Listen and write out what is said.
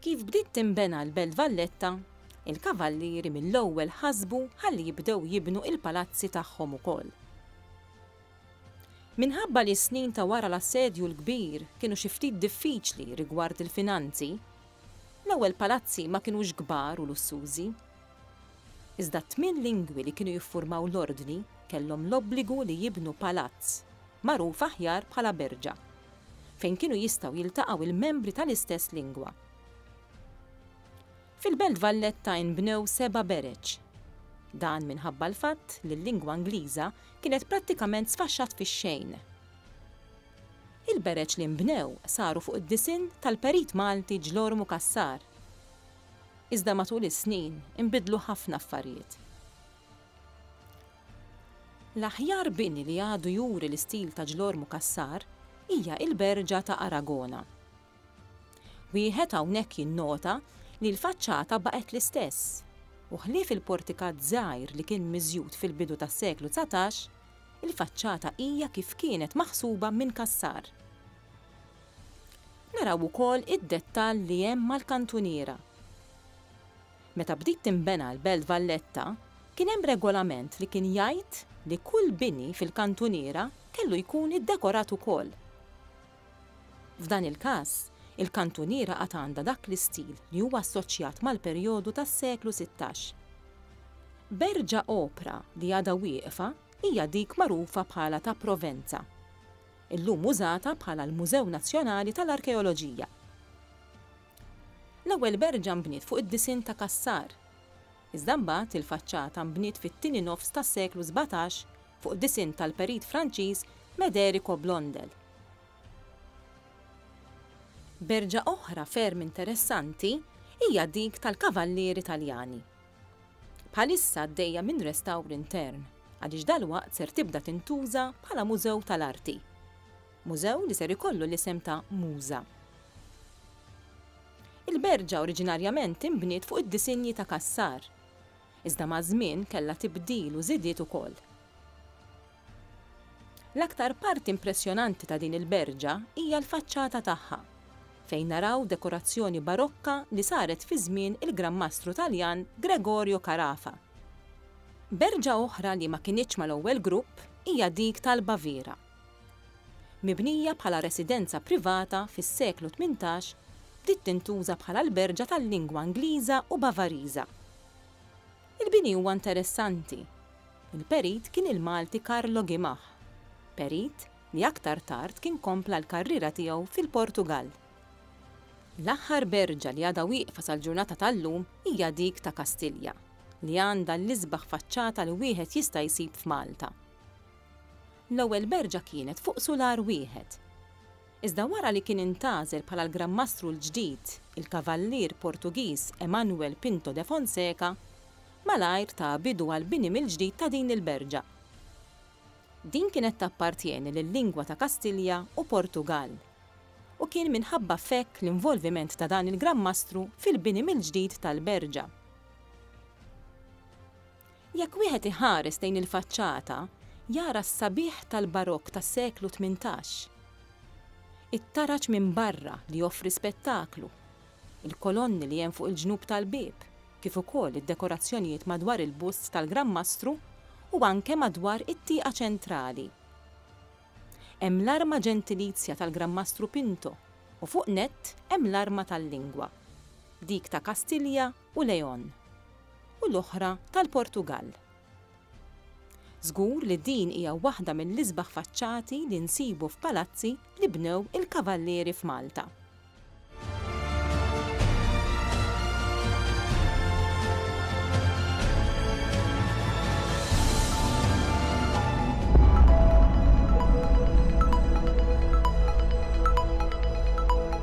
Kif bdiet tinbena l-Belt Valletta, il-Kavallieri mill-ewwel ħasbu ħalli jibdew jibnu il-palazzi tagħhom ukoll. Minħabba li s-snin ta' wara l-Assedju l-Kbir kienu xi ftit diffiċli rigward il-finanzi, l-ewwel palazzi ma kinux kbar u lussużi. Iżda t-tmien lingwi li kienu jiffurmaw l-Ordni kellhom l-obbligu li jibnu palazz, magħruf aħjar bħala berġa. fejn kienu jistgħu jiltaqgħu il-membri tal-istess lingwa. Fil-Belt Valletta inbnew seba' bereġ. Dan minħabba l-fatt li l-lingwa Ingliża kienet prattikament sfaxxat fix-xejn. Il-bereġ li nbnew saru fuq id-disinn tal-Perit Malti Ġlormu Cassar. Iżda matul is-snin inbidlu ħafna affarijiet. L-aħjar bini li għadu juri l-istil ta' Ġlormu Cassar hija il-Berġa ta' Aragona. Wieħed hawnhekk jinnota li l-faċċata baqgħet l-istess u ħlief il-portikat żgħir li kien miżjud fil-bidu tas-seklu dsatax, il-faċċata hija kif kienet maħsuba minn Cassar. Naraw ukoll id-dettall li hemm mal-kantuniera. Meta bdiet tinbena l-Belt Valletta, kien hemm regolament li kien jgħid li kull bini fil-kantuniera kellu jkun iddekorat ukoll. F'dan il-każ, il-kantuniera għad għandha dak l-istil li huwa assoċjat mal-perjodu tas-seklu sittax. Berġa opra li għadha wieqfa hija dik magħrufa bħala ta' Provenza, illum użata bħala l-Mużew Nazzjonali tal-Arkeoloġija. L-ewwel berġa nbniet fuq id-disinn ta' Cassar. Iżda mbagħad il-faċċata nbniet fit-tieni nofs tas-seklu sbatax fuq disinn tal-perit Franċiż Mederico Blondel. Berġa oħra ferm interessanti hija dik tal-Kavallieri Taljani. Bħalissa għaddejja minn restawr intern għaliex dalwaqt ser tibda tintuża bħala mużew tal-arti. Mużew li ser ikollu l-isem ta' Muża. Il-berġa oriġinarjament inbniet fuq id-disinji ta' Cassar. Iżda maż-żmien kellha tibdil u żidiet ukoll. L-aktar parti impressjonanti ta' din il-berġa hija l-faċċata tagħha, fejn naraw dekorazzjoni barokka li saret fi żmien il-Gran Mastru Taljan Gregorio Carafa. Berġa oħra li ma kinitx mal-ewwel grupp hija dik tal-Baviera. Mibnija bħala residenza privata fis-seklu tmintax, bdiet tintuża bħala alberġa tal-lingwa Ingliża u Bavariża. Il-bini huwa interessanti. Il-perit kien il-Malti Carlo Guimah, perit li aktar tard kien kompla l-karriera tiegħu fil-Portugall. L-aħħar berġa li għadha wieqfa sal-ġurnata tal-lum hija dik ta' Kastilja, li għandha l-isbaħ faċċata li wieħed jista' jsib f'Malta. L-ewwel berġa kienet fuq sular wieħed. Iżda wara li kien intgħażel bħala l-Granmastru l-ġdid il-Kavallier Portugiż Emanuel Pinto de Fonseca, malajr ta bidu għall-bini mill-ġdid ta' din il-berġa. Din kienet tappartjeni lil-Lingwa ta' Kastilja u Portugall, u kien minħabba f'hekk l-involviment ta' dan il-Granmastru fil-bini mill-ġdid tal-berġa. Jekk wieħed iħares lejn il-faċċata, jara s-sabiħ tal-Barokk tas-seklu tmintax. It-taraġ minn barra li joffri spettaklu, il-kolonni li hemm fuq il-ġnub tal-bieb, kif ukoll id-dekorazzjonijiet madwar il-bust tal-Gran Mastru u anke madwar it-tieqa ċentrali. Hemm l-arma ġentilizja tal-Gran Mastru Pinto u fuq nett hemm l-arma tal-lingwa, dik ta' Kastilja u Leon, u l-oħra tal-Portugall. Żgur li din hija waħda mill-isbaħ faċċati li nsibu f'palazzi li bnew il-Kavallieri f'Malta.